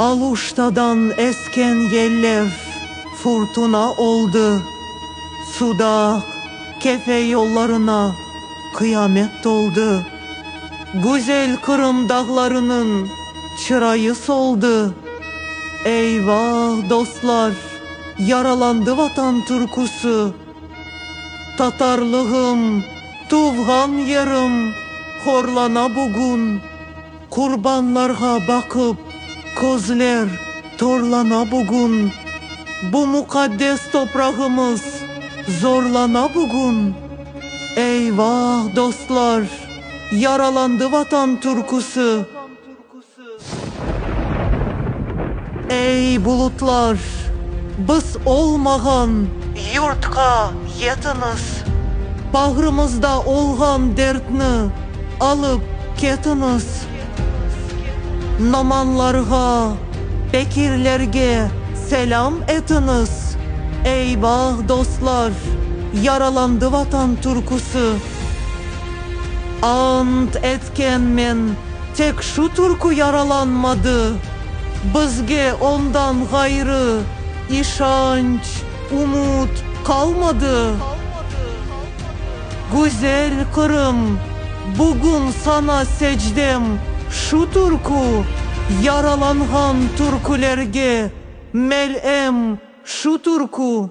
Aluştadan esken yellev furtuna oldı, Sudaq, Kefe yollarına qıyamet toldı. Güzel Qırım dağlarınıñ çırayı soldı. Eyvah, dostlar, yaralandı Vatan türküsi! Tatarlığım, tuvğan yerim horlana bugün, Qurbanlarğa baqıp, közler torlana bugün, Bu muqaddes toprağımız zorlana bugün. Eyvah, dostlar, yaralandı Vatan türküsi! Ey, bulutlar, biz olmağan yurtqa yetiñiz! Bağrımızda olğan dertni alıp ketiñiz! Nomanlarğa, pekirlerge selâm etiñiz! Eyvah, dostlar, yaralandı Vatan türküsi! Ant etkenmen, Tek şu türkü yaralanmadı. Bizge ondan ğayrı işanç, umut qalmadı. Güzel Qırım, bugün sana secdem şu türkü, yaralanğan türkülerge mel'em şu türkü.